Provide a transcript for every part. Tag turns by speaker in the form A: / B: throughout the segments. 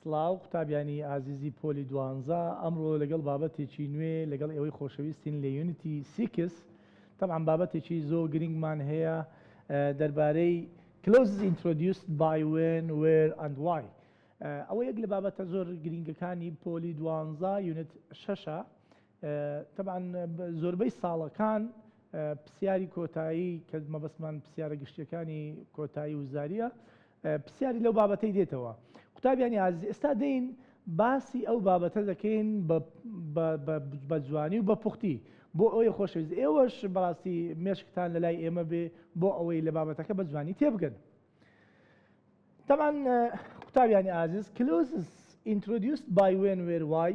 A: سڵاو قوتابیانی ئازیزی پۆلی دوانزە ئەمڕۆ لەگەڵ بابەتێکی نوێ لەگەڵ ئێوەی خۆشەویستین لە یونتی سیکس تەبعەن بابەتێکی زۆر گرنگمان هەیە دەربارەی Clauses Introduced by When, Where and Why ئەوە یەک لە بابەتە زۆر گرنگەکانی پۆلی دوانزە یونت شەشە تەبعەن زۆربەی ساڵەکان پسیاری کۆتایی کە مەبەستمان پسیارە گشتیەکانی کۆتایی و زاریە پسیاری لەو بابەتەی دێتەوە قوتابیانی ئازیز ئێستا دێین باسی ئەو بابەتە دەکەین بە جوانی و بە پوختی بۆ ئەوەی خۆشەویست ئێوەش بەڕاستی مێشکتان لەلای ئێمە بێ بۆ ئەوەی لە بابەتەکە بە جوانی تێبگەن تەبان قوتابیانی ئازیز کلوزز ئینترۆدیوست بای وێن وێر وای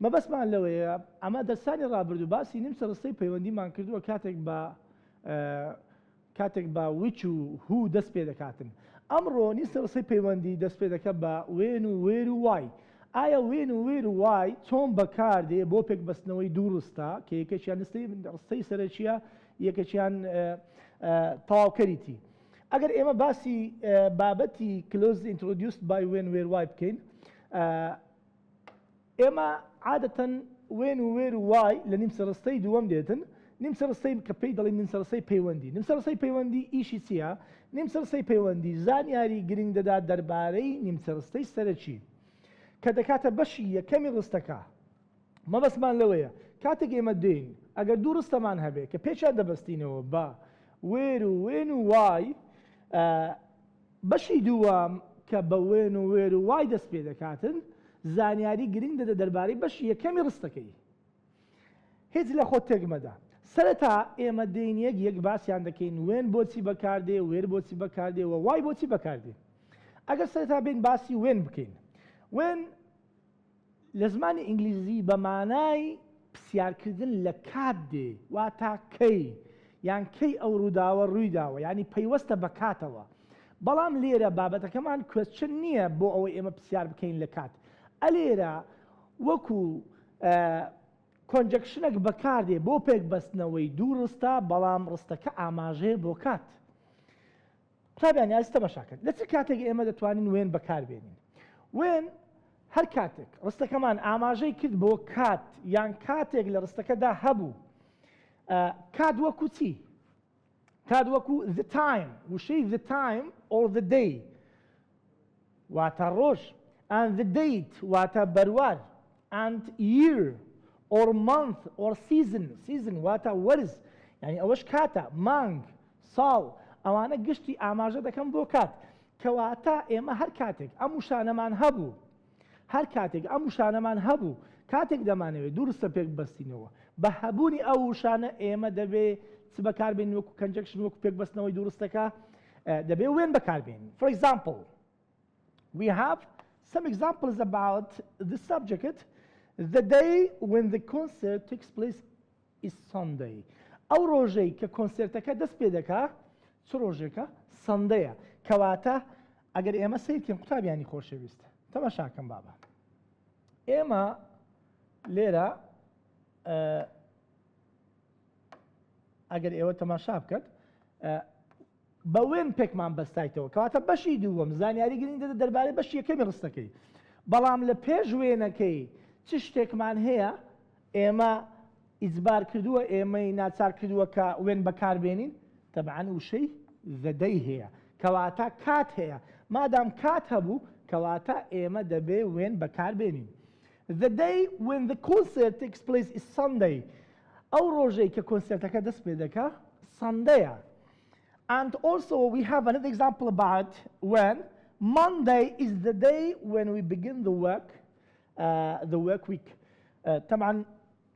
A: مەبەستمان لەوەیە ئەمە دەرسانی ڕابردوو باسی نیمچە ڕستەی پەیوەندیمان کردووە کاتێک بە کاتێک بە وچ و هو دەست پێ دەکاتن ئەمڕۆ نیسە ڕستەی پەیوەندی دەست پێ دەکە بە وێن و وێر و وای ئایا وێن و وێر و وای چۆن بەکاردێ بۆ پێک بەستنەوەی دوو ڕستە کە یەکەکیان نستەی ڕستەی سەرەکیە یەکەکیان تەواوکەریتی ئەگەر ئێمە باسی بابەتی Clauses Introduced by When Where Why بکەین، ئێمە عادەتەن When و Where و Why لە نیمچە ڕستەی دووەم دێتن، نیمچە ڕستەی کە پێی دەڵێین نیمچە ڕستەی پەیوەندی. نیمچە ڕستەی پەیوەندی ئیشی چییە؟ نیمچە ڕستەی پەیوەندی زانیاری گرنگ دەدات دەربارەی نیمچە ڕستەی سەرەکی، کە دەکاتە بەشی یەکەمی ڕستەکە. مەبەستمان لەوەیە کاتێک ئێمە دێین ئەگەر دوو ڕستەمان هەبێ کە پێکیان دەبەستینەوە بە، وێر و وێن و وای، ئە، بەشی دووەم کە بە، وێن و وێر و وای، دەست پێ دەکاتن، زانیاری گرنگ دەدە دەربارەی بەشی یەکەمی ڕستەکەی. هیچ لە خۆت تێک مەدە. سەرەتا ئێمە دێین یەک یەک باسیان دەکەین وێن بۆچی بەکار دێ، وێر بۆچی بەکار دێ و وای بۆچی بەکار دێ. ئەگەر سەرەتا بێین باسی وێن بکەین. وێن. لە زمانی ئینگلیزی بە مانای پسیارکردن لە کات دێ واتا کەی یان کەی ئەو ڕووداوە ڕووی داوە یانی پەیوەستە بە کاتەوە بەڵام لێرە بابەتەکەمان کوێسچن نییە بۆ ئەوەی ئێمە پسیار بکەین لە کات ئە لێرە وەکو کۆنجەکشنەک بەکاردێ بۆ پێکبەستنەوەی دوو ڕستە بەڵام ڕستەکە ئاماژەیە بۆ کات قوتابیان یازی تەماشا کرد لە چ کاتێک ئێمە دەتوانین وێن بەکاربێنین وێن هەر کاتێک ڕستەکەمان ئاماژەی کرد بۆ کات یان کاتێک لە ڕستەکەدا هەبوو کات وەکو چی کات وەکو the time وشەی the time or the day واتە ڕۆژ and the date واتە بەروار and year or month or season season واتە وەرز یعنی ئەوەش کاتە مانگ ساڵ ئەوانە گشتی ئاماژە دەکەن بۆ کات کەواتە ئێمە هەر کاتێک ئەم وشانەمان هەبوو هەر کاتێک ئەم وشانەمان هەبوو، کاتێک دەمانەوێت دوو ڕستە پێک ببەستینەوە، بە هەبوونی ئەو وشانە ئێمە دەبێ چ بەکار بێنین وەکو کەنجەکشن وەکو پێک بەستنەوەی دوو ڕستەکە دەبێ وێن بەکار بێنین for example we have some examples about the subject the day when the concert takes place Is Sunday ئەو ڕۆژەی کە کۆنسێرتەکە دەست پێ دەکا چ ڕۆژێکە؟ سەندەیە. کەواتە ئەگەر ئێمە سەیر کەین قوتابیانی خۆشەویست تەمەشاکەم بابە ئێمە لێرە ئەگەر ئێوە تەماشا بکەت بە وێن پێکمان بەستایتەوە کەواتە بەشی دووەم زانیاری گرنگ دەدە دەربارەی بەشی یەکەمی ڕستەکەی بەڵام لە پێش وێنەکەی چ شتێکمان هەیە ئێمە ئیجبار کردووە ئێمەی ناچار کردووە کە وێن بەکاربێنین تەبعەن وشەی زەدەی هەیە کەواتە کات هەیە مادام کات هەبوو کەواتە ئێمە دەبێ وێن بەکاربێنین The day when the concert takes place is Sunday ئەو ڕۆژەی کە کۆنسرتەکە دەست پێ دەکا سەندەیە And also we have another example about when Monday is the day when we begin the work uh, the work week. Uh, طبعا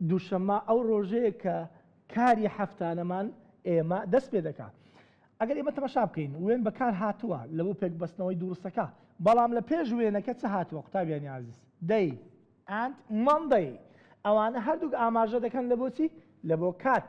A: دوشەممە ئەو ڕۆژەیە کە کاری هەفتانەمان ئێمە دەست پێ دەکات. ئەگەر ئێمە تەمەشا بکەین وێن بەکار هاتووە لە بۆ پێکبەستنەوەی دووڕستەکە بەڵام لە پێش وێنەکە چ هاتووە قوتابیانی عزیز دەی ئەند مندەی ئەوانە هەردووک ئاماژە دەکەن لە بۆچی لە بۆ کات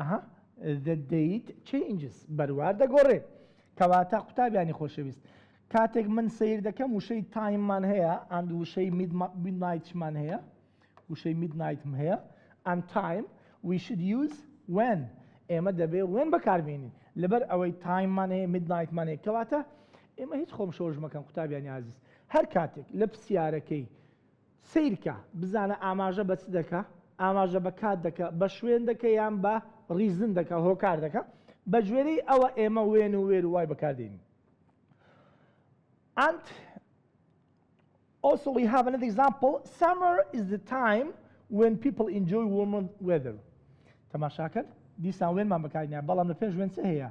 A: ئەها دەدەیت چەینجس بەروار دەگۆڕێ کەواتە قوتابیانی خۆشەویست کاتێک من سیر دەکەم وشەی تایممان هەیە ئەند وشەی میدنایتمان هەیە وشەی میدنایتم هەیە ئەند تایم ویشد یوز وێن ئێمە دەبێ وێن بەکاربیێنین لەبەر ئەوەی تایممان هەیە میدنایتمان هەیە کەواتە ئێمە هیچ خۆم شۆژمەکەم قوتابیانی عزیز هەر کاتێک لە پرسیارەکەی سەیرکە بزانە ئاماژە بە چ دەکا، ئاماژە بە کات دەکا، بە شوێن دەکا یان بە ڕیزن دەکا، هۆکار دەکا. بەگوێرەی ئەوە ئێمە وێن و وێر و وای بەکار دێنین. ئەنت ئۆسۆ وی هاڤ ئەنەدە ئیگزامپڵ، سەمەر ئیز دە تایم وێن پیپڵ ئینجۆی وۆرمەر وێدەر. تەماشا کەن، دیسان وێنمان بەکار هێناین، بەڵام لە پێش وێن چ هەیە؟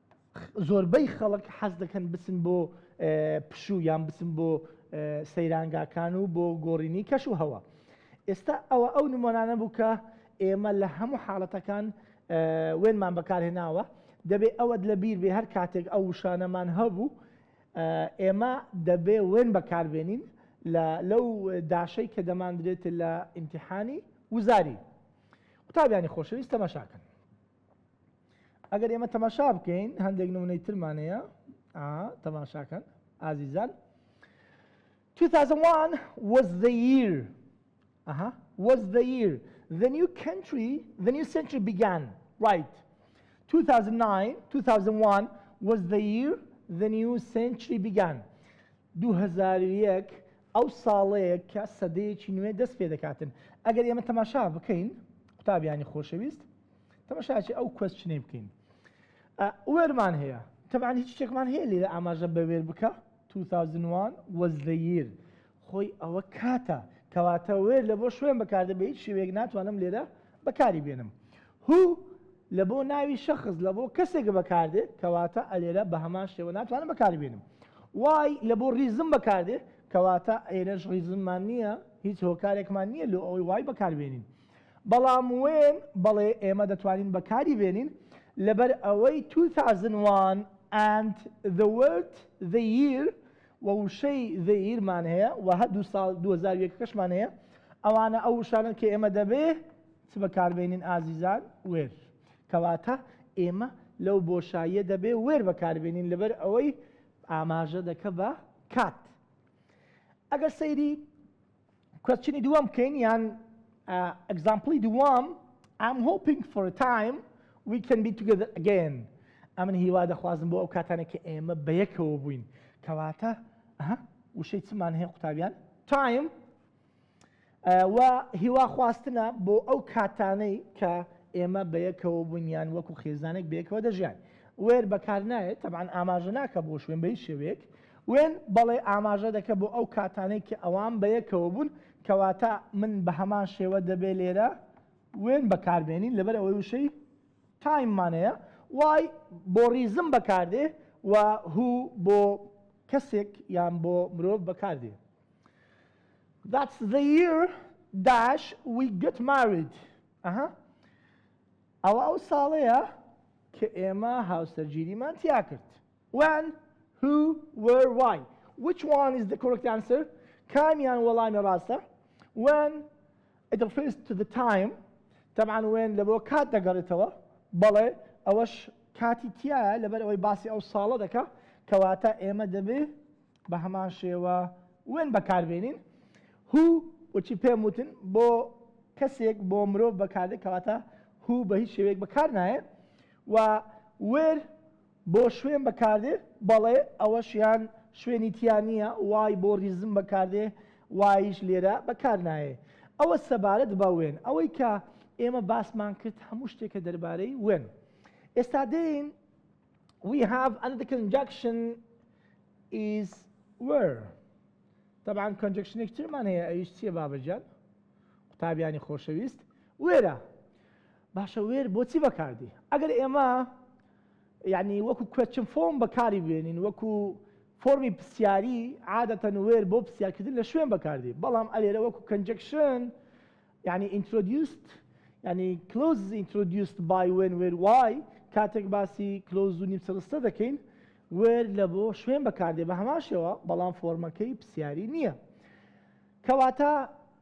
A: زۆربەی خەڵک حەز دەکەن بچن بۆ پشوو یان بچن بۆ سەیرانگاکان و بۆ گۆڕینی کەش و هەوا ئێستا ئەوە ئەو نمۆنانە بوو کە ئێمە لە هەموو حاڵەتەکان وێنمان بەکارهێناوە دەبێ ئەوەت لە بیر بێ هەر کاتێک ئەو وشانەمان هەبوو ئێمە دەبێ وێن بەکاربێنین لەو داشەی کە دەماندرێت لە ئیمتحانی وزاری قوتابیانی خۆشەویست تەمەشاکەن ئەگەر ئێمە تەماشا بکەین هەندێک نمونەی ترمانەیە تەماشاکەن ئازیزان 2001 was the year ئەها was the year the new country the new century began right 2009 2001 was the year the new century began 2001 ئەو ساڵەیە کە سەدەیەکی نوێ دەست پێ دەکاتن ئەگەر ئێمە تەماشا بکەین قوتابیانی خۆشەویست تەمەشاچی ئەو کوەسچنەی بکەین ئە وێرمان هەیە تەبان هیچ شتێکمان هەیە لێرە ئاماژە بە وێر بکە 2001 was the year خۆی ئەوە کاتە کەواتە وێر لە بۆ شوێن بەکاردە بە هیچ شێوەیەک ناتوانم لێرە بەکاری بێنم هو لە بۆ ناوی شەخص لە بۆ کەسێک بەکاردێ کەواتە ئەلێرە بە هەمان شێوە ناتوانم بەکاری بێنم وای لە بۆ ریزم بەکاردێ کەواتە ئێرەش ریزممان نییە هیچ هۆکارێکمان نییە لۆ ئەوەی وای بەکاربێنین بەڵام وێن، بەڵێ ئێمە دەتوانین بەکاری بێنین، لەبەر ئەوەی توو ثاوزن وان ئەند ذە وۆرد ذە ییر و وشەی ذە ییر مان هەیە و هەردوو ساڵ دوو هەزار و یەک ەکەشمان هەیە، ئەوانە ئەو وشانەن کە ئێمە دەبێ چ بەکار بێنین ئازیزان؟ وێر. کەواتە ئێمە لەو بۆشاییە دەبێ وێر بەکار بێنین لەبەر ئەوەی ئاماژە دەکە بە کات. ئەگەر سەیری کوێسچنی دووەم بکەین یان ئەگزامپڵی دووەم I'm hoping for a time we can be together again ئەمن هیوا دەخوازم بۆ ئەو کاتانە کە ئێمە بە یەکەوە بووین کەواتە وشەی چمان هەیە قوتابیان تایم و هیوا خواستنە بۆ ئەو کاتانەی کە ئێمە بە یەکەوە بوونیان وەکو خێزانێک بێکەوە دەژیان وێر بەکار نایێت تەبان ئاماژە ناکە بۆ شوێن بەی شێوێک وێن، بەڵی ئاماژە دەکە بۆ ئەو کاتانەی کە ئەوان بەیەکەوە بوون، کەواتە من بەهەمان شێوە دەبێ لێرە وێن بەکاربێنین لەبەر ئەوەی وشەی، Time، مان هەیە، Why، بۆ ڕیزم بەکاردێ و Who، بۆ کەسێک یان بۆ مرۆڤ بەکاردێ. That's the year dash we got married ئەها ئەوە ئەو ساڵەیە کە ئێمە هاوسەرگیریمان تیاکرد. When Who Where Why Which one is the correct answer کامیان وەڵامی ڕاستە When It refers to the time طبعا when لە بۆ کات دەگەڕێتەوە بەڵێ ئەوەش کاتی تیایە لەبەر ئەوەی باسی ئەو ساڵە دەکا کەواتە ئێمە دەبێ بە هەمان شێوە وێن بەکاربێنین هو وچی پێم وتن بۆ کەسێک بۆ مرۆڤ بەکاردێک کەواتە هو بە هیچ شێوەیەک بەکار نایە و وێر بۆ شوێن بەکاردێ؟ بەڵێ ئەوەشیان شوێنی تیا نیە وای بۆ ریزم بەکاردێ وایش لێرە بەکارنایێ ئەوە سەبارەت بە وێن ئەوەی کە ئێمە باسمان کرد هەموو شتێکە دەربارەی وێن ئێستا دێین we have another conjunction is were طبعا conjunction ترمان هەیە ئەویش چیە بابەجان قوتابیانی خۆشەویست وێرە باشە وێر بۆچی بەکاردی ئەگەر ئێمە یعنی وەکو کوێچن فۆم بەکاری بێنین وەکو فۆرمی پرسیاری عادەتەن وێر بۆ پرسیارکردن لە شوێن بەکاردی بەڵام ئەلێرە وەکو کەنجەکشن یعنی ئینترۆدیوست ینی کلۆز ئینترۆدیوست بای وێن وێر وای کاتێک باسی کلۆز و نیمسەرستە دەکەین وێر لە بۆ شوێن بەکاردێ بە هەماشەوە بەڵام فۆرمەکەی پرسیاری نییە کەواتە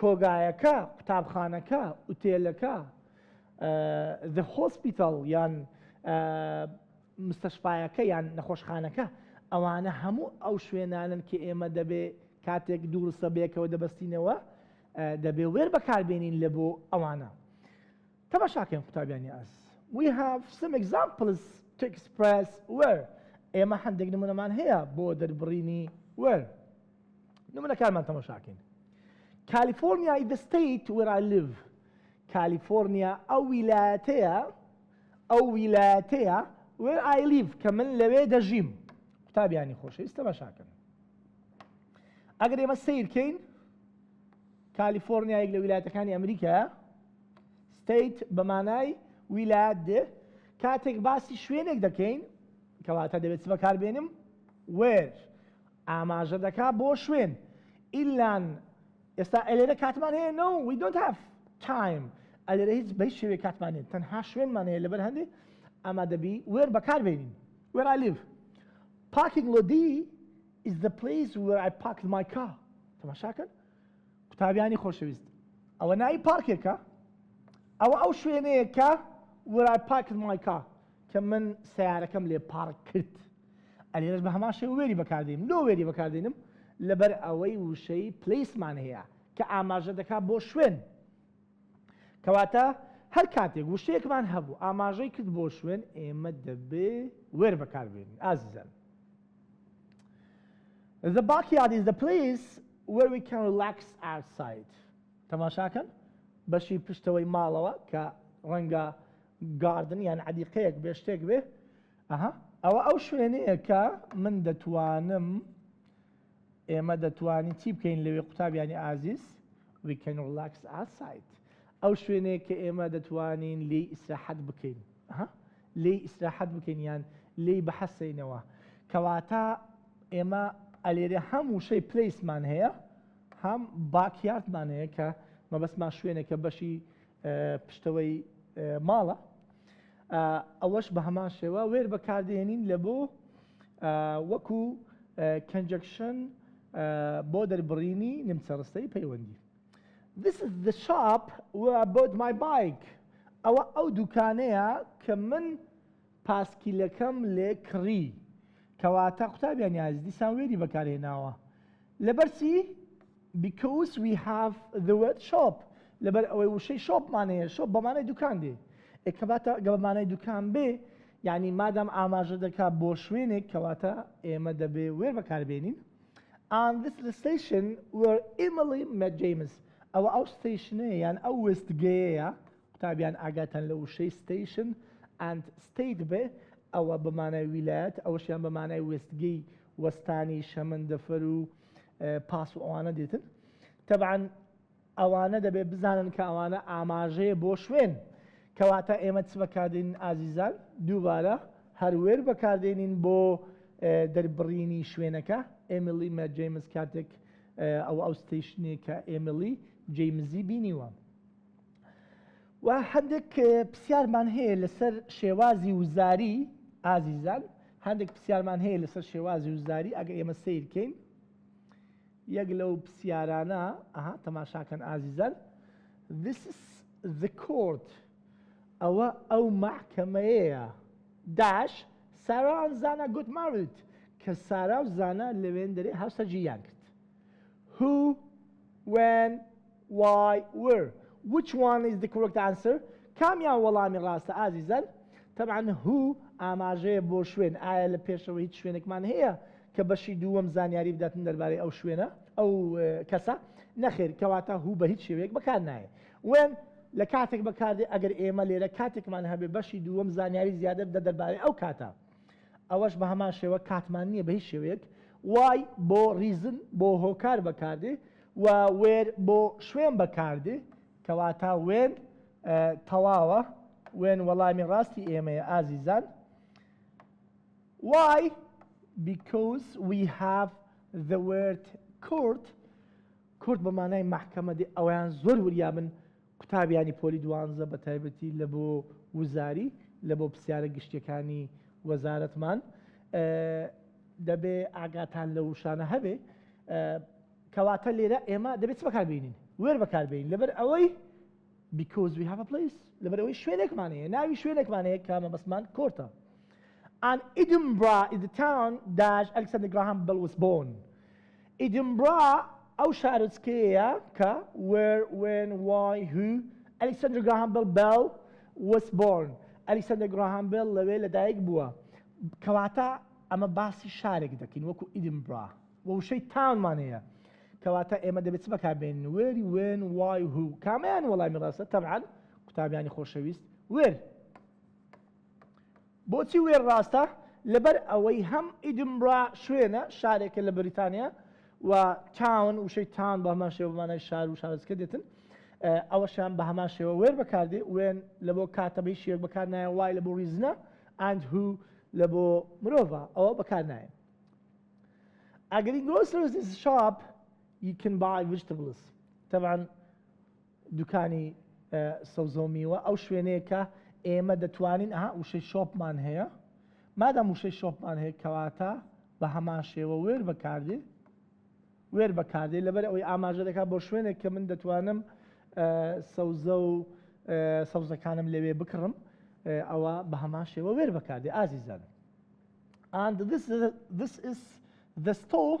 A: کۆگایەکە، قوتابخانەکە، ئوتێلەکە، The Hospital، یان مستەشفایەکە یان نەخۆشخانەکە، ئەوانە هەموو ئەو شوێنانەن کە ئێمە دەبێ کاتێک دوو ڕستە بەیەکەوە دەبەستینەوە دەبێ وێر بەکاربێنین لە بۆ ئەوانە. تەماشاکەن قوتابیانی ئاز. We have some examples to express where. ئێمە هەندێک نمونەمان هەیە بۆ دەربڕینی where. نمونە کارمان تەمەشاکەین کالیفۆرنیا ئی دەستەیت وێرالڤ کالیفۆرنیا ئەو ویلایەتەیە ئەو ویلایەتەیە وێ ئایلیڤ کە من لەوێ دەژیم قوتابیانی خۆشەویست تەمەشاکەن ئەگەر ئێمە سیرکەین کالیفۆرنیایەک لە ویلایەتەکانی ئەمریکا ستیت بەمانای ویلایەت دێ کاتێک باسی شوێنێک دەکەین کەواتە دەبێت بەکاربێنم وێر ئاماژە دەکا بۆ شوێن، ئیلان، ئێستا ئەلێرە کاتمان هەیە No we don't have time ئەلێرە هیچ بەهیچ شێوەیەک کاتمان نیە تەنها شوێنمان هەیە لەبەر هەندێ ئەمە دەبی where بەکار بێنین where I live Parking لۆدی is the place where I parked my car تەماشاکەن قوتابیانی خۆشەویست ئەوە ناوی پارکێکە؟ ئەوە ئەو شوێنەیە کە where I parked my car کە من سەیارەکەم لێ پارک کرد ئەلێرەش بە هەمان شێوە وێری بەکاردێنم لۆ وێری بەکاردێنم لەبەر ئەوەی وشەی پلیسمان هەیە کە ئاماژە دەکات بۆ شوێن کەواتە هەر کاتێک وشەیەکمان هەبوو ئاماژەی کرد بۆ شوێن ئێمە دەبێ وێر بەکاربێنین ئازیزان The backyard is the place where we can relax outside. تەماشاکەن بەشی پشتەوەی ماڵەوە کە ڕەنگە گاردن یان عەدیقەیەک بێ شتێک بێ ئەها ئەوە ئەو شوێنەیە کە من دەتوانم ئێمە دەتوانین چی بکەین لەوێ قوتابیانی ئازیز we can relax outside ئەو شوێنەیە کە ئێمە دەتوانین لێی ئیسراحەت بکەین ها لێی ئیسراحەت بکەین یان لێی بحەسێینەوە کەواتە ئێمە ئەلێرێ هەم وشەی پلیسمان هەیە هەم باکیارتمان هەیە کە مەبەستمان شوێنێکە بەشی پشتەوەی ماڵە ئەوەش بە هەمان شێوە وێر بەکاردێنین لە بۆ وەکو کەنجەکشن بۆ دەربڕینی نمچەڕستەی پەیوەندی This is the shop where I bought my bike ئەوە ئەو دوکانەیە کە من پاسکیلەکەم لێ کڕی کەواتە قوتابیان یاز دیسان وێری بەکارهێناوە لەبەرسی because we have the word shop لەبەر ئەوەی وشەی شۆپمانەیە شۆپ بەمانەی دوکان دێ ئەکەباتە گەڵمانەی دوکان بێ یعنی مادام ئاماژە دەکات بۆ شوێنێک کەواتە ئێمە دەبێ وێر بەکاربێنین and this is the station where Emily met James ئەوە ئەو ستەیشنەیە یان ئەو وێستگەیەیە قوتابیان ئاگاتان لە وشەی ستەیشن and state بێ ئەوە بە مانای ویلایەت ئەوەشیان بە مانای وێستگەی وەستانی شەمەندەفەر و پاس و ئەوانە دێتن تەبعاً ئەوانە دەبێت بزانن کە ئەوانە ئاماژەیە بۆ شوێن. کەواتە ئێمە چ بەکاردێنین ئازیزان؟ دووبارە هەر وێر بەکاردێنین بۆ دەربڕینی شوێنەکە، ئێمیلی مە جەیمس کاتێک ئەوە ئەو ستەیشنەیە کە ئێمیلی جەیمزی بینیوە. و هەندێک پرسیارمان هەیە لەسەر شێوازی وزاری ئازیزان، هەندێک پرسیارمان هەیە لەسەر شێوازی وزاری ئەگەر ئێمە سەیرکەین، یەک لەو پسیارانە ئەها تەماشاکەن ئازیزان This is the court ئەوە ئەو مەحکەمەیەیە داش Sarah and Zana got married کە سارا و زانا لە وێندەرەی هاوسەرگیریان کرد Who When وای ور Which one is the correct answer کامیان وەڵامی ڕاستە ئازیزان؟ تەبعەن Who ئاماژەیە بۆ شوێن ئایا لە پێشەوە هیچ شوێنێکمان هەیە کە بەشی دووەم زانیاری بداتن دەربارەی ئەو شوێنە ئەو کەسە؟ نەخێر کەواتە Who بە هیچ شێوەیەک بەکار نایێ When لە کاتێک بەکاردێ ئەگەر ئێمە لێرە کاتێکمان هەبێ بەشی دووەم زانیاری زیادە بدە دەربارەی ئەو کاتە. ئەوەش بە هەمان شێوە کاتمان نییە بە هیچ شێوەیەک، Why بۆ ریزن بۆ هۆکار بەکاردێ و Where بۆ شوێن بەکاردێ کەواتە When تەواوە When وەڵامی ڕاستی ئێمەیە ئازیزان Why Because we have the word court کورد بە مانای مەحکەمە دێ ئەویان زۆر وریابن قوتابیانی پۆلی دوانزە بە تایبەتی لە بۆ وزاری لە بۆ پسیارە گشتیەکانی وەزارەتمان دەبێ ئاگاتان لە وشانە هەبێ کەواتە لێرە ئێمە دەبێت چ بەکار بینین وێر بەکار بین لەبەر ئەوەی because we have a place لەبەر ئەوەی شوێنێکمان هەیە ناوی شوێنێکمان هەیە کامە بەسمان کۆرتە and Edinburgh is the town dash Alexander Graham Bell was born ئیدنبرا ئەو شارۆچکەیەیە کە، Where، When، Why، Who، ئەلیکسەندر گراهام بێڵ Bell was born، ئەلیکسەندەر گڕاهام بێڵ لەوێ لەدایک بووە. کەواتە ئەمە باسی شارێک دەکەین وەکو ئیدنبرا و وشەی Town مان هەیە. کەواتە ئێمە دەبێ چ بەکار بێنین، Where، When، Why، Who، کامەیان وەڵامی ڕاستە؟ تەبعەن قوتابیانی خۆشەویست Where. بۆچی وێر ڕاستە؟ لەبەر ئەوەی هەم ئیدنبرا شوێنە، شارێکە لە بەریتانیا، و تاون، وشەی تاون بە هەمان شێوە بە مانای شار و شارۆچکە دێتن، ئەوەشیان بە هەمان شێوە وێر بەکار دێ، when، لە بۆ کاتە بە هیچ شێوەیەک بەکار نایەن، why، لە بۆ ڕیزنە، and who، لە بۆ مرۆڤە، ەوە بەکار نایەن. ئەگەری گرۆسەرس ئیز شاپ ی کن بای ڤیجتبڵس، تەبعەن دوکانی سەوزەو میوە ئەو شوێنەیە کە ئێمە دەتوانین ئەها وشەی شۆپمان هەیە مادام وشەی شۆپمان هەیە کەواتە بە هەمان شێوە وێر بەکاردێ وێر بەکاردێ لەبەر ئەوەی ئاماژە دەکات بۆ شوێنێک کە من دەتوانم سەوزە و سەوزەکانم لەوێ بکڕم ئەوە بە هەمان شێوە وێر بەکاردێ ئازیزان and this this is the store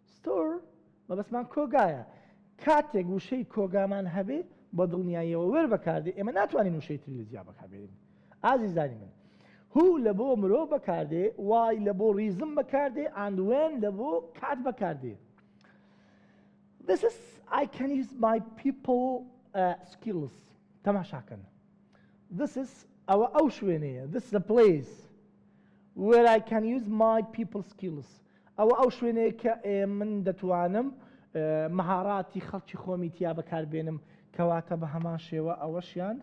A: ستۆر، مەبەستمان کۆگایە. کاتێک وشەی کۆگامان هەبێ، بە دڵنیاییەوە وێر بەکاردێ، ئێمە ناتوانین وشەی تری لە جیا بەکاربێنین. ئازیزانی من. Who لە بۆ مرۆڤ بەکاردێ، Why لە بۆ ڕیزم بەکاردێ and When لە بۆ کات بەکاردێ. This is I can use my people skills. تەماشا کەن. This is ئەوە ئەو شوێنەیە. This is a place where I can use my people skills. ئەوە ئەو شوێنەیە کە ئێمن دەتوانم مەهاراتی خەڵکی خۆمی تیا بەکار بێنم کەواتە بە هەمان شێوە ئەوەشیان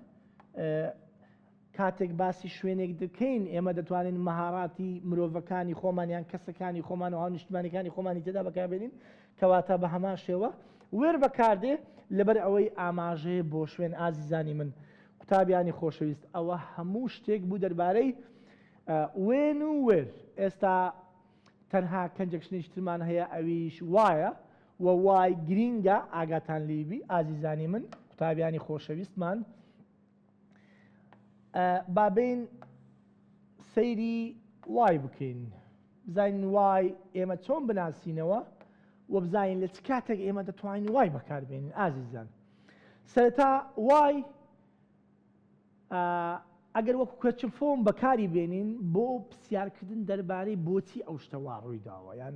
A: کاتێک باسی شوێنێک دەکەین ئێمە دەتوانین مەهاراتی مرۆڤەکانی خۆمانیان کەسەکانی خۆمان و هاونیشتمانەکانی خۆمانی تێدا بەکاربێنین کەواتە بە هەمان شێوە وێر بەکاردێ لەبەر ئەوەی ئاماژەیە بۆ شوێن ئازیزانی من قوتابیانی خۆشەویست ئەوە هەموو شتێک بوو دەربارەی وێن و وێر ئێستا تەنها کەنجەک شنێکی ترمان هەیە ئەویش وایە و وای گرینگە ئاگاتان لیبی ئازیزانی من قوتابیانی خۆشەویستمان بابین سەیری وای بکەین بزانین وای ئێمە چۆن بناسینەوە و بزانین لە چ کاتێک ئێمە دەتوانین وای بەکاربێنین ئازیزان سەرەتا وای ئەگەر وەکو کەچ فۆم بەکاری بێنین بۆ پرسیارکردن دەربارەی بۆچی ئەو شتە وا ڕووی داوە یان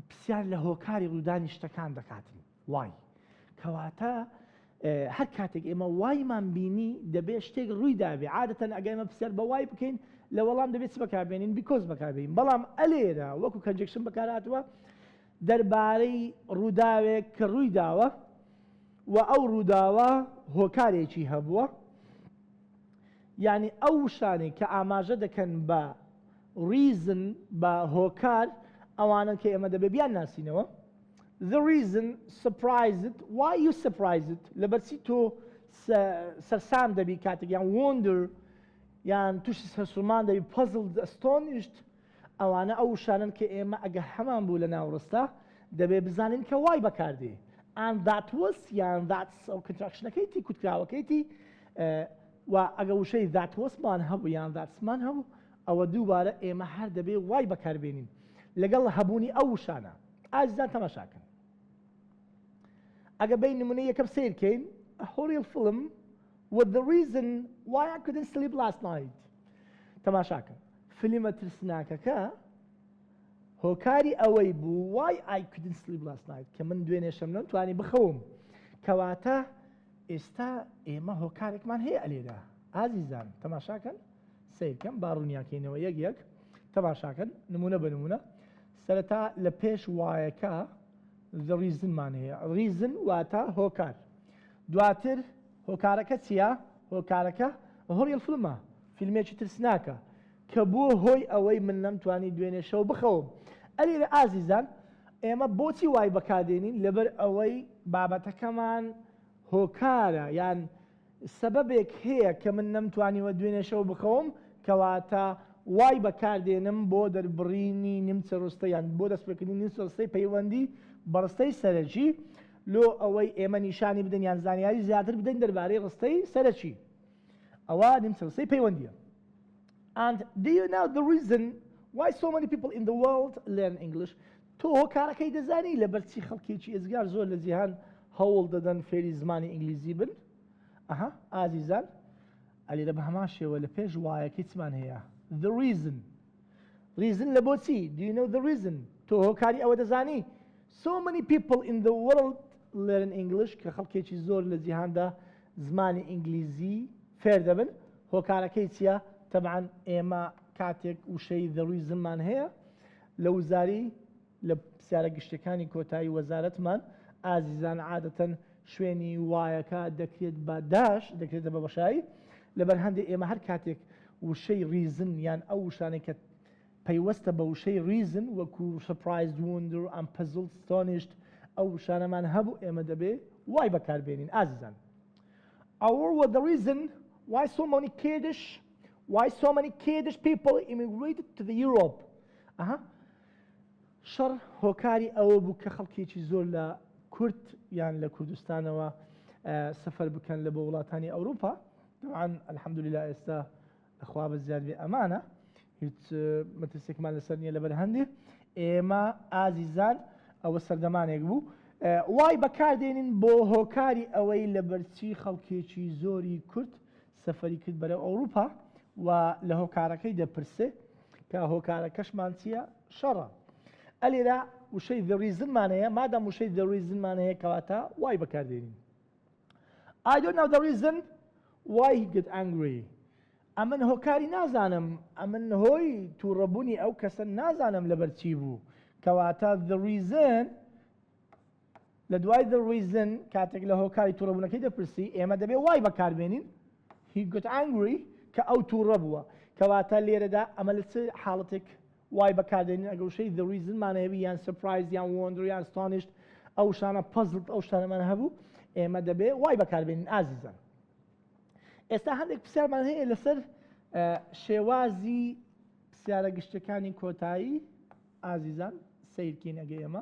A: پرسیار لە هۆکاری ڕوودانی شتەکان دەکاتن وای کەواتە هەر کاتێک ئێمە وایمان بینی دەبێت شتێک ڕووی دابێ عادەتەن ئەگەمە پرسیار بە وای بکەین لە وەڵام دەبێت بەکاربێنین بیکۆز بەکاربین بەڵام ئەلێرە وەکو کەنجکشن بەکاراتوە دەربارەی ڕووداوێک کە ڕوویداوە و ئەو ڕووداوە هۆکارێکی هەبووە، یانی ئەو شتانەی کە ئاماژە دەکەن بە Reason، بە هۆکار، ئەوانەن کە ئێمە دەبێت بیانناسینەوە، The reason surprised why you surprised، لەبەرچی تۆ سەرسام دەبیت کاتێک، یان Wonder، یان تووشی سەرسوڕمان دەبیت Puzzled، Astonished، ئەوانە ئەو وشانەن کە ئێمە ئەگەر هەمان بوو لە ناوڕستە دەبێ بزانین کە وای بەکاردێ and that was یان that's ئەو کەنتراکشنەکەی تی کوتکراوەکەی تی و ئەگە وشەی that was مان هەبوو یان that's مان هەبوو ئەوە دووبارە ئێمە هەر دەبێ وای بەکاربێنین لەگەڵ هەبوونی ئەو وشانە ئازیزان تەماشاکەن ئەگە بین نمونە یەکەم سیرکەین a horrible film with the reason why I couldn't sleep last night تەماشاکەن فلیمە ترسناکەکە هۆکاری ئەوەی بوو Why I Couldn't Sleep Last Night کە من دوێنێ شەم نەم توانی بخەوم کەواتە ئێستا ئێمە هۆکارێکمان هەیە ئەلێدا ئازیزان تەماشاکەن سیرکەم باڕوونیاکەینەوە یەک یەک تەماشاکەن نمونە بە نمونە سەرەتا لە پێش وایەکە ریزنمان هەیە ریزن واتە هۆکار دواتر هۆکارەکە چیە؟ هۆکارەکە هۆڕیڕ فلمە، فیلمێکی ترسناکە کە بووە هۆی ئەوەی من نەمتوانی دوێنێ شەو بخەوم. ئە لێرە ئازیزان ئێمە بۆچی وای بەکار دێنین لەبەر ئەوەی بابەتەکەمان هۆکارە یان سەبەبێک هەیە کە من نەمتوانیوە دوێنێ شەو بخەوم کەواتە وای بەکار دێنم بۆ دەربڕینی نیمچە ڕستە یان بۆ دەست پێکردنی نیمچە ڕستەی پەیوەندی بە ڕستەی سەرەکی لۆ ئەوەی ئێمە نیشانی بدەین یان زانیاری زیاتر بدەین دەربارەی ڕستەی سەرەکی ئەوا نیمچەڕستەی پەیوەندییە And do you know the reason why so many people in the world learn English تۆ هۆکارەکەی دەزانی لەبەرچی خەڵکێکی ئێزگار زۆر لە جیهان هەوڵ دەدەن فێری زمانی ئینگلیزی بن ئەها ئازیزان ئەلیرە بە هەمان شێوە لە پێش وایەکەی چمان هەیە the reason ڕیزن لە بۆچی، Do you know the reason؟ تۆ هۆکاری ئەوە دەزانی؟ So many people in the world learn English کە خەڵکێکی زۆر لە جیهاندا زمانی ئینگلیزی فێر دەبن. هۆکارەکەی چییە؟ تەبعەن ئێمە کاتێک وشەی The reason مان هەیە لە وزاری لە پرسیارە گشتیەکانی کۆتایی وەزارەتمان، ئازیزان عادەتەن شوێنی وایەکە دەکرێت بە داش، دەکرێتە بە بەشایی، لەبەر هەندێ ئێمە هەر کاتێک وشەی ریزن یان ئەو وشانەی کە پەیوەستە بە وشەی ریزن وەکو سەپرایزد ووندر ئەم پەزڵد ستۆنیشت ئەو وشانەمان هەبوو ئێمە دەبێ وای بەکار بێنین ئازیزان ئەوڕ وە دە ریزن وای سۆ مۆنی کێدش وای سۆ مەنی کێدش پیپڵ ئیمیگریتد تو ذە یوڕۆپ ئەها شەڕ هۆکاری ئەوە بوو کە خەڵکێکی زۆر لە کورد یان لە کوردستانەوە سەفەر بکەن لە بۆ وڵاتانی ئەوروپا دەوان الحەمدللا ئێستا خوا بە زیاد بێ ئەمانە هیچ مەترسێکمان لەسەر نییە لەبەر هەندێ ئێمە ئازیزان ئەوە سەردەمانێک بوو وای بەکاردێنین بۆ هۆکاری ئەوەی لە بەرچی خەڵکێکی زۆری کورد سەفەری کرد بەرەو ئەوروپا و لە هۆکارەکەی دەپرسێ کە هۆکارەکەشمان چییە شەڕە ئەلێرا وشەی دەڕیزنمان هەیە مادەم وشەی دەڕیزنمان هەیە کەواتە وای بەکاردێنین I don't know the reason why he get angry ئەمن هۆکاری نازانم ئەمن هۆی تووڕەبوونی ئەو کەسە نازانم لەبەر چی بوو کەواتە the reason لە دوای the reason کاتێک لە هۆکاری تووڕەبوونەکەی دەپرسی، ئێمە دەبێ why بەکاربێنین. He got angry کە ئەو تووڕە بووە. کەواتە لێرەدا ئەمە لە چ حاڵەتێک why بەکاردێنین؟ ئەگەر وشەی the reason مان هەبی یان surprised یان wonder یان astonished ئەو وشانە puzzled ئەو شتانەمان هەبوو ئێمە دەبێ why بەکاربێنین ئازیزان. ئێستا هەندێک پرسیارمان هەیە لەسەر شێوازی پرسیارە گشتەکانی کۆتایی ئازیزان سیرکین ئەگەی ئەمە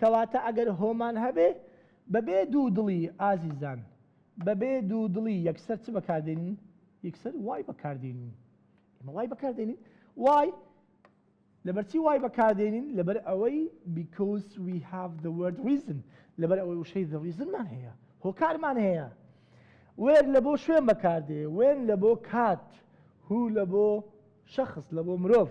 A: کەواتە ئەگەر هۆمان هەبێ بەبێ دوو دڵی ئازیزان بەبێ دوو دڵی یەکسەر چ بەکاردێنین یەکسەر وای بەکاردێنین ئمە وای بەکاردێنین وای لەبەرچی وای بەکاردێنین لەبەر ئەوەی because we have the word reason لەبەر ئەوەی وشەی the reasonمان هەیە هۆکارمان هەیە وێر لە بۆ شوێن بەکاردێ وێن لە بۆ کات هو لە بۆ شخص لە بۆ مرۆڤ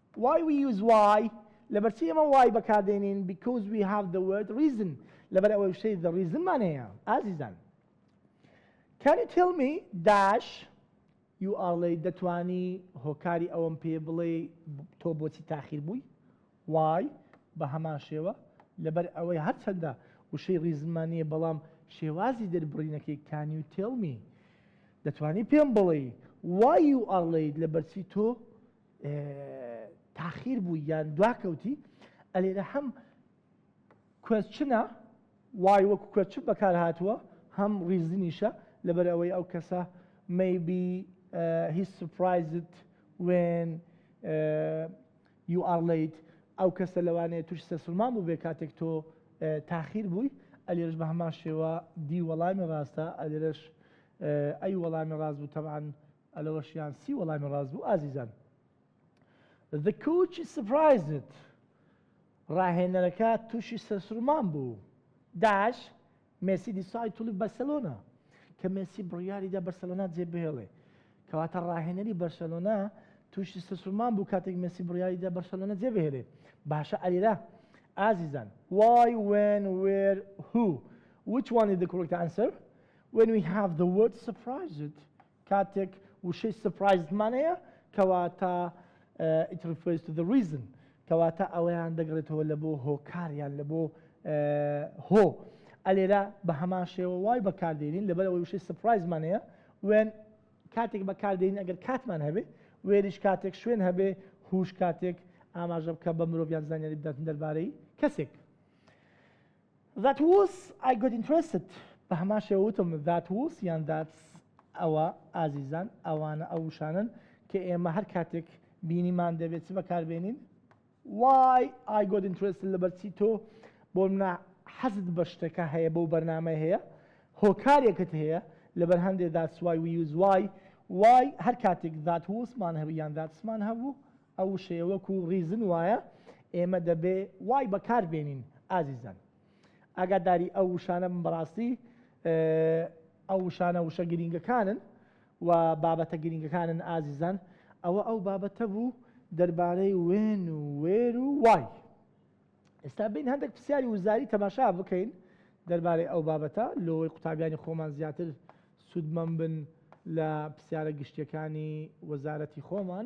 A: Why we use why لەبەرچی ئێمە why بەکاردێنین Because we have the word reason لەبەر ئەوەی وشەی the reason مان هەیە ئازیزان Can you tell me dash You are late دەتوانی هۆکاری ئەوەم پێ بڵێ تۆ بۆچی تاخیر بووی وای بە هەمان شێوە لەبەر ئەوەی هەرچەندە وشەی ڕیزمانیە بەڵام شێوازی دەربڕینەکەی کانی و تێڵمی دەتوانی پێم بڵێ وای و ئەڵیت لە بەرچی تۆ تاخیر بوو یان دواکەوتی ئەلێرە هەم کوێچنە وای وەکو کوێچ بەکار هاتووە هەم ڕیزنیشە لەبەر ئەوەی ئەو کەسە مەبی هی سوپایزت وێن یو ئاڵیت ئەو کەسە لەوانەیە توش سەسلمان بوو بێ کاتێک تۆ تاخیر بووی ئەلێرش بە هەمان شێوە دی وەڵامی ڕاستە ئەلێرش ئەی وەڵامی ڕاست بوو تەمان ئە لەوەش یان سی وەڵامی ڕاست بوو ئازیزان The coach is surprised ڕاهێنەرەکە تووشی سەرسوڕمان بوو داش مێسی دیسای تولی بەرسەلۆنا کە مێسی بڕیاریدا بەرسەلۆنا جێبهێڵێ کەواتە ڕاهێنەری بەرسەلۆنا تووشی سەرسوڕمان بوو کاتێک مێسی بڕیاریدا بەرسەلۆنا جێبهێلێ باشە ئەلیرا ئازیزان why when where who which one is the correct answer When we have the word surprised کاتێک وشەی surprised مان هەیە کەواتە uh, it refers to the reason کەواتە ئەوەیان دەگڕێتەوە لە بۆ هۆکاریان لە بۆ هۆ ئەلێرە بە هەمان شێوە وای بەکاردێنین لەبەر ئەوەی وشەی سپرایزمان هەیە وێن کاتێک بەکاردێنین ئەگەر کاتمان هەبێ وێریش کاتێک شوێن هەبێ هوش کاتێک ئاماژە بکە بە مرۆڤیان زانیاری بداتن دەربارەی کەسێک That was I got interested بە هەمان شێوە وتم That was یان That's ئەوە ئازیزان ئەوانە ئەو وشانەن کە ئێمە هەر کاتێک بینیمان دەبێت چ بەکاربێنین Why I got interested لەبەرچی تۆ بۆ منە حەزت بە شتەکە هەیە بەو بەرنامەی هەیە هۆکارێکت هەیە لەبەر هەندێک That's why we use why Why هەر کاتێک That was مان هەبوو یان That's مان هەبوو ئەو وشەیە وەکو ڕیزن وایە ئێمە دەبێ وای بەکار بێنین ئازیزان ئاگاداری ئەو وشانە بن بەڕاستی ئەو وشانە وشە گرینگەکانن و بابەتە گرینگەکانن ئازیزان ئەوە ئەو بابەتە بوو دەربارەی وێن و وێر و وای ئێستا بین هەندێک پرسیاری وزاری تەماشا بکەین دەربارەی ئەو بابەتە لۆی قوتابیانی خۆمان زیاتر سوودمەم بن لە پرسیارە گشتیەکانی وەزارەتی خۆمان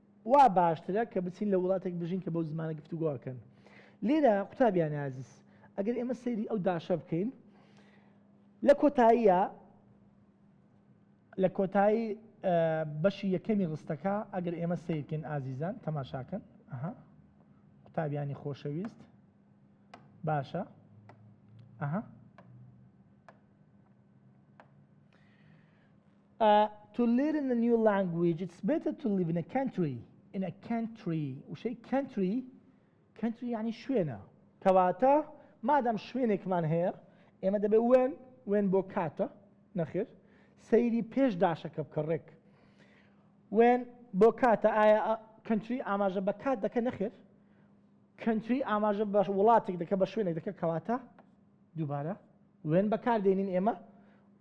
A: وا باشترە کە بچین لە وڵاتێک بژین کە بەو زمانە گفتوگۆ ئەکەن لێرە قوتابیانی ئازیز ئەگەر ئێمە سەیری ئەو داشە بکەین لە کۆتاییە لە کۆتایی بەشی یەکەمی ڕستەکە ئەگەر ئێمە سیرکن ئازیزان تەماشاکەن ئەها قوتابیانی خۆشەویست باشە ئەها A to live in a new language it's better to live in a country in a country وشەی country country یعنی شوێنە کەواتە مادام شوێنێکمان هەیە ئێمە دەبێ وێن وێن بۆ کاتە نەخێر سەیری پێش داشەکە بکە ڕێک وێن بۆ کاتە ئایا کەنتری ئاماژە بە کات دەکە نەخێر کەنتری ئاماژە بە وڵاتێک دەکە بە شوێنێک دەکە کەواتە دووبارە، when، بەکاردێنین ئێمە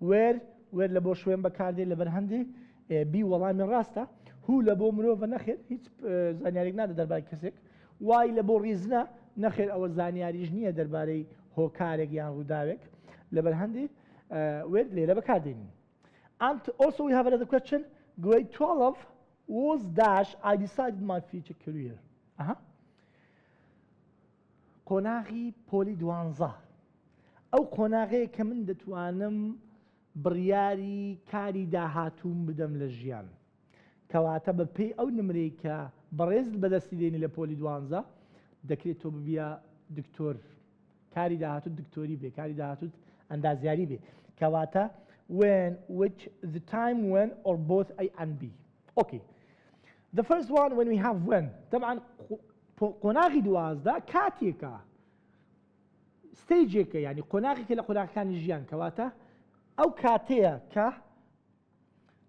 A: where، where، لە بۆ شوێن بەکاردێت لە بەرهەندێ بی وەڵامی ڕاستە who، لە بۆ مرۆڤە نەخێر هیچ زانیاریک نادە دەربای کەسێک why، لە بۆ ڕیزنە نەخێر ئەوە زانیاریش نییە دەربارەی هۆکارێک یان ڕووداوێک لە بەرهەندی where لێرە بەکاردێنین and also we have another question grade 12 was dash I decided my future career. Uh -huh. قۆناغی پۆلی دوانزە ئەو قۆناغەیە کە من دەتوانم بڕیاری کاری داهاتووم بدەم لە ژیان کەواتە بە پێی ئەو نمرەی کە بەڕێزت بەدەستی دێنی لە پۆلی دوانزە دەکرێت تۆ ببیە دکتۆر کاری داهاتوت دکتۆری بێ کاری داهاتوت ئەندازیاری بێ کەواتە when which the time when or both a and b okay the first one when we have when طبعا قۆناغی دوازدە کاتێکە ستەیجێکە یعنی قۆناغێکە لە قۆناغەکانی ژیان کەواتە ئەو کاتەیە کە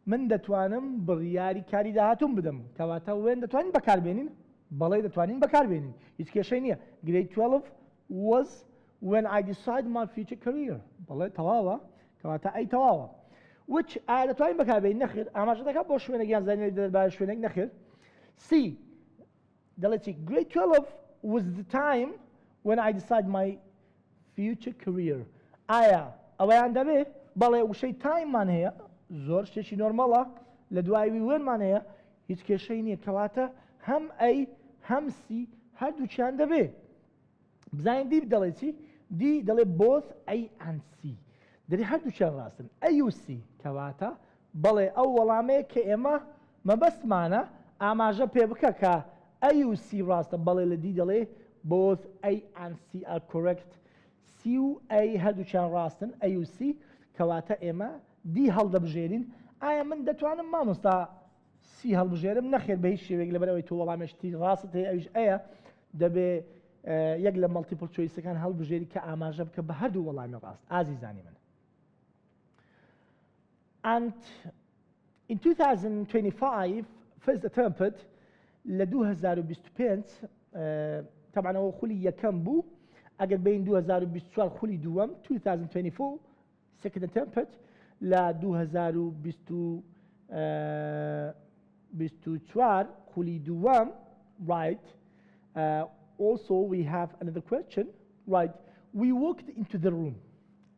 A: من دەتوانم بڕیاری کاری داهاتوم بدەم کەواتە وێن دەتوانین بەکاربێنین بەڵێ دەتوانین بەکاربێنین هیچ کێشەی نییە گرەی 12 وەز when I decide my future career بەڵێ تەواوە کەواتە ئەی تەواوە وچ ئایا دەتوانین بەکاربێنین نەخێر ئاماژە دەکات بۆ شوێنێک یان زانیاری دەربارە شوێنێک نەخێر سی دەڵێ چی Grade 12 was the time when I decide my future career ئایا ئەوەیان دەبێ بەڵێ وشەی time مان هەیە زۆر شتێکی نۆرمەڵە لە دوای وی when مان هەیە هیچ کێشەی نییە کەواتە هەم ئەی هەم سی هەردووکیان دەبێ بزانین دی دەڵێ چی دی دەڵێ بۆس ئەی ئەنسی دەری هەردووچیان ڕاستن ئەیوسی کەواتە بەڵێ ئەو وەڵامەیە کە ئێمە مەبەستمانە ئاماژە پێ بکە کە ئەیوسی ڕاستە بەڵێ لە دی دەڵێ بۆس ئەی ئەنسی ئە کورێکت سی و ئەی هەردووچیان ڕاستن ئەیوسی کەواتە ئێمە دی هەڵدەبژێرین ئایا من دەتوانم مامۆستا سی هەڵبژێرم، نەخێر بە هیچ شێوەیەک لەبەر ئەوەی تۆ وەڵامێ شتی ڕاستت هەیە ئەویش ئەیە دەبێ یەک لە مەڵتیپل چۆیسەکان هەڵبژێری کە ئاماژە بکە بە هەردوو وەڵامی ڕاست ئازیزانی من and in 2025 first attempt لە 2025 تەبانەوە خولی یەکەم بوو ئەگەر بین 2024 خولی دووەم 2024 سکرتێر تێمپت لە دوو هەزار و بیست و چوار خولی دووەم ڕایت ئۆڵسۆ وی هاڤ ئەنەدەر کوێسچن ڕایت وی وۆکد ئینتو دە ڕووم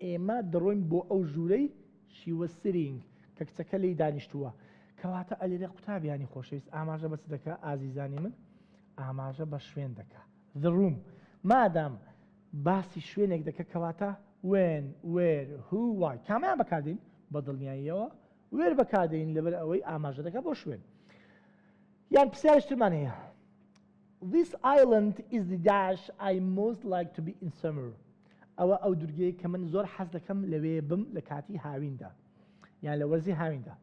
A: ئێمە دەڕۆین بۆ ئەو ژوورەی شی وەز سیرینگ کە کچەکە لێی دانیشتووە کەواتە ئەلێرێ قوتابیانی خۆشەویست ئاماژە بە چ دەکا ئازیزانی من؟ ئاماژە بە شوێن دەکا the room مادام باسی شوێنێک دەکە کەواتە When Where Who Why کامەیان بەکاردێین بە دڵنیاییەوە Where بەکاردێین لەبەر ئەوەی ئاماژە دەکە بۆ شوێن یان پرسیارش ترمان هەیە This island is the dash I most like to be in summer ئەوە ئەو دورگەیە کە من زۆر حەز دەکەم لەوێ بم لە کاتی هاویندا یان لە وەرزی هاویندا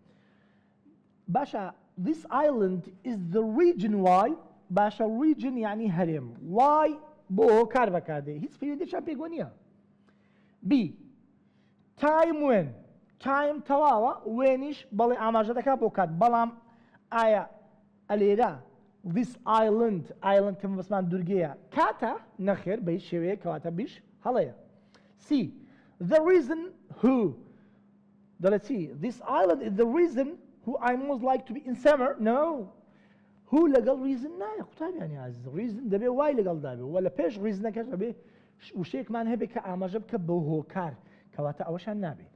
A: باشە This island is the region why باشە region یانی هەرێم why بۆ کار بەکاردێ هیچ پەیوەندیشان پێگۆ نییە B time when time تەواوە وێنیش بەڵێ ئاماژە دەکات بۆ کات بەڵام ئایا ئەلێرە this island island کە بەسمان دوورگەیە کاتە نەخێر بە هیچ شێوەیە کەواتە بیش هەڵەیە C the reason who دەڵێ چی This island is the reason who I most like to be in summer No هو لەگەڵ ریزن نایە قوتابیانی عزیز ریزن دەبێ وای لەگەڵ دابێ وە لە پێش ریزنەکەش دەبێ وشێکمان هەبێت کە ئاماژە بکە بە هۆکار کەواتە ئەوەشان نابێ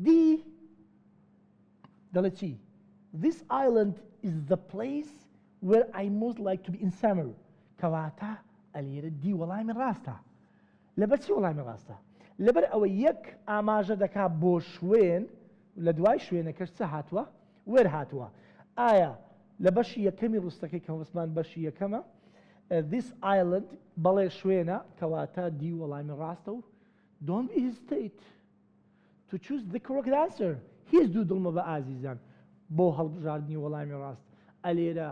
A: دی دەڵێ چی This island is the place where I most like to be in summer کەواتە ئەلێرە دی وەڵامی ڕاستە لەبەر چی وەڵامی ڕاستە؟ لەبەر ئەوەی یەک ئاماژە دەکا بۆ شوێن و لە دوای شوێنەکەش چ هاتووە؟ وێر هاتووە. ئایا لە بەشی یەکەمی ڕستەکەی کە هۆسمان بەشی یەکەمە، This island، بەڵێ شوێنە، کەواتە دی وەڵامی ڕاستە و Don't be hesitate to choose the correct answer هیچ دوو دڵ مەبە ئازیزان بۆ هەڵبژاردنی وەڵامی ڕاست ئەلێرە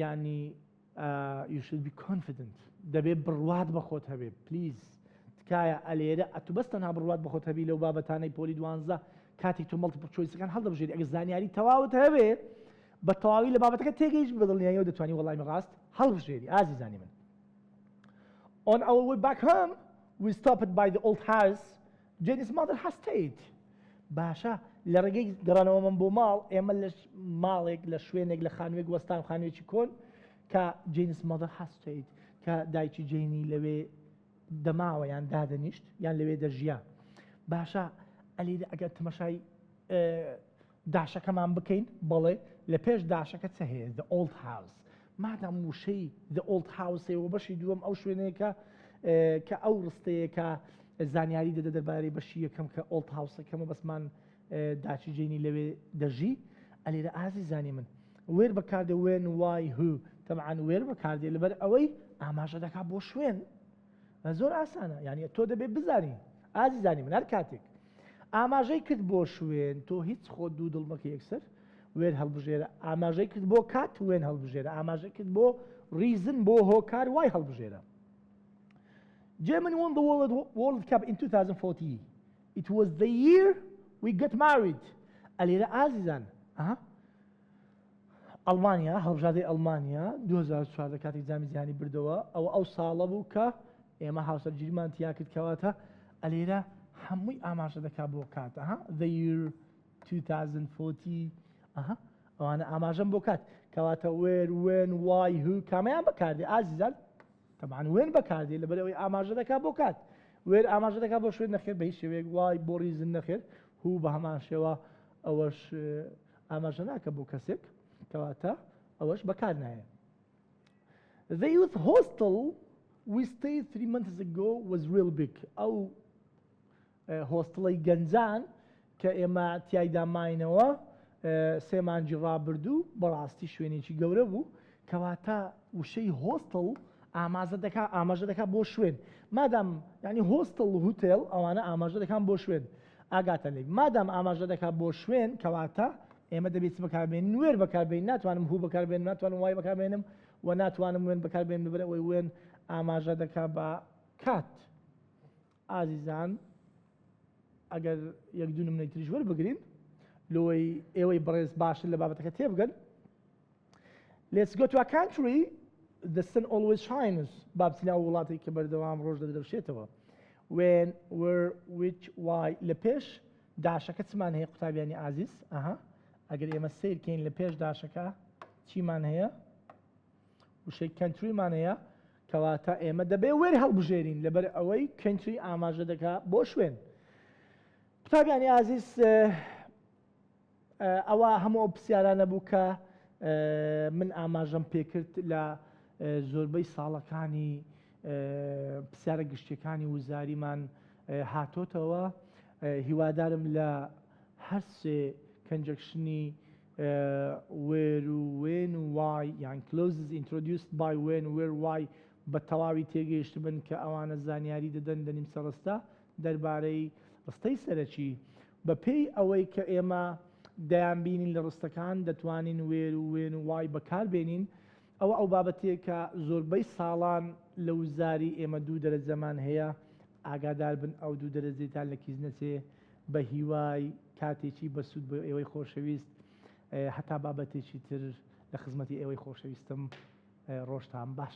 A: یانی you should be confident دەبێ بڕوات بە خۆت هەبێ پلیز تکایە ئەلێرە ئەتو بەس تەنها بڕوات بە خۆت هەبی لەو بابەتانەی پۆلی دوانزە کاتێک تۆ مەڵتیپڵ چۆیسەکان هەڵدەبژێری ئەگەر زانیاری تەواوت هەبێ بە تەواوی لە بابەتەکە تێگەیش بەدڵنیاییەوە دەتوانی وەڵامی ڕاست هەڵبژێری ئازیزانی من on our way back home we stopped by the old house جەنیس مادر هەستەیت باشە لە ڕێگەی گەڕانەوە من بۆ ماڵ ئێمە لە ماڵێک لە شوێنێک لە خانوێک وەستان خانوێکی کۆن کە جەنیس مادر هەستەیت کە دایکی جەینی لەوێ دەماوە یان دادەنیشت یان لەوێ دەژیا باشە ئەلیدا ئەگەر تمەشای داشەکەمان بکەین؟ بەڵێ، لە پێش داشەکە چ هەیە؟ The Old House. مادام وشەی The Old House ەیە و بەشی دووەم ئەو شوێنەیە کە کە ئەو ڕستەیە کە زانیاری دەدە دەربارەی بەشی یەکەم کە Old House ەکەم و بەسمان داچی جەینی لەوێ دەژی. ئەلێرە ئازیزانی من وێر بەکاردێ when why who تەبعەن وێر بەکاردێ لەبەر ئەوەی ئاماژە دەکا بۆ شوێن. زۆر ئاسانە یانی تۆ دەبێ بزانی ئازیزانی من هەر کاتێک ئاماژەی کرد بۆ شوێن تۆ هیچ خۆت دوو دڵ مەکە یەکسەر وێن هەڵبژێرە ئاماژەی کرد بۆ کات وێن هەڵبژێرە ئاماژەی کرد بۆ ڕیزن بۆ هۆکار وای هەڵبژێرە German won the World, World Cup in 2014. It was the year we got married. ئەلێرە ئازیزان. ئەها. ئەڵمانیا، هەڵبژاردەی ئەڵمانیا دوو هەزار و چواردە کاتێک جامی جیهانی بردەوە ئەوە ئەو ساڵە بوو کە ئێمە هاوسەرگیریمان تیا کرد کەواتە ئەلێرە هەمووی ئاماژە دەکات بۆ کات ئەها the year 2040 ئەها ئەوانە ئاماژەم بۆ کات کەواتە وێر وێن وای هو کامیان بەکاردێ ئازیزان تەبان وێن بەکاردێ لەبەر ئەوەی ئاماژە دەکات بۆ کات وێر ئاماژە دەکات بۆ شوێن نەخێر بە هیچ شێوەیەک وای بۆ ریزن نەخێر هو بە هەمان شێوە ئەوەش ئاماژە ناکە بۆ کەسێک کەواتە ئەوەش بەکار نایە The youth hostel we stayed three months ago was real big ئەو هۆستڵی گەنجان کە ئێمە تایدا ماینەوە سێ مانجی ڕابردوو بەڕاستی شوێنێکی گەورە بوو کەواتە وشەی هۆستڵ ئامازە دەکا ئاماژە دەکات بۆ شوێن مادام ینی هۆستڵ هوتێل ئەوانە ئاماژە دەکان بۆ شوێن ئاگاتە لێک مادام ئاماژە دەکات بۆ شوێن کەواتە ئێمە دەبێت چ بەکاربێنین وێر بەکاربێنین ناتوانم هوو بەکاربێنم ناتوانم وای بەکاربێنم و ناتوانم وێن بەکاربێنم لەبەر ئەوەی وێن ئاماژە دەکات بە کات ئازیزان ئەگەر یەک دوو نمونەی تریش وەربگرین لۆی ئێوەی بەڕێز باشتر لە بابەتەکە تێبگەن Let's go to a country the sun always shines با بچینە ئەو وڵاتێک کە بەردەوام ڕۆژ دەدرەوشێتەوە when where which why لە پێش داشەکە چمان هەیە قوتابیانی ئازیز ئەها ئەگەر ئێمە سیرکەین لە پێش داشەکە چیمان هەیە وشەی کەنتریمان هەیە کەواتە ئێمە دەبێ وێر هەڵبژێرین لەبەر ئەوەی کەنتری ئاماژە دەکا بۆ شوێن قوتابیانی ئازیز ئەوە هەموو ئەو پرسیارانە بوو کە من ئاماژەم پێکرد لە زۆربەی ساڵەکانی پرسیارە گشتیەکانی وزاریمان هاتۆتەوە هیوادارم لە هەرسێ کەنجەکشنی وێر و وێن و وای یان کلۆزز ئینترۆدیوست بای وێن وێر وای بە تەواوی تێگەیشت بن کە ئەوانە زانیاری دەدەن دەنیمسە ڕستە دەربارەی ڕستەی سەرەکی بە پێی ئەوەی کە ئێمە دەیان بینین لە ڕستەکان دەتوانین وێر و وێن و وای بەکار بێنین ئەوە ئەو بابەتەیە کە زۆربەی ساڵان لە وزاری ئێمە دوو دەرەجەمان هەیە ئاگادار بن ئەو دوو دەرەجەیتان لە کیس نەچێ بە هیوای کاتێکی بە سوود بۆ ئێوەی خۆشەویست هەتا بابەتێکی تر لە خزمەتی ئێوەی خۆشەویستم ڕۆژتان باش.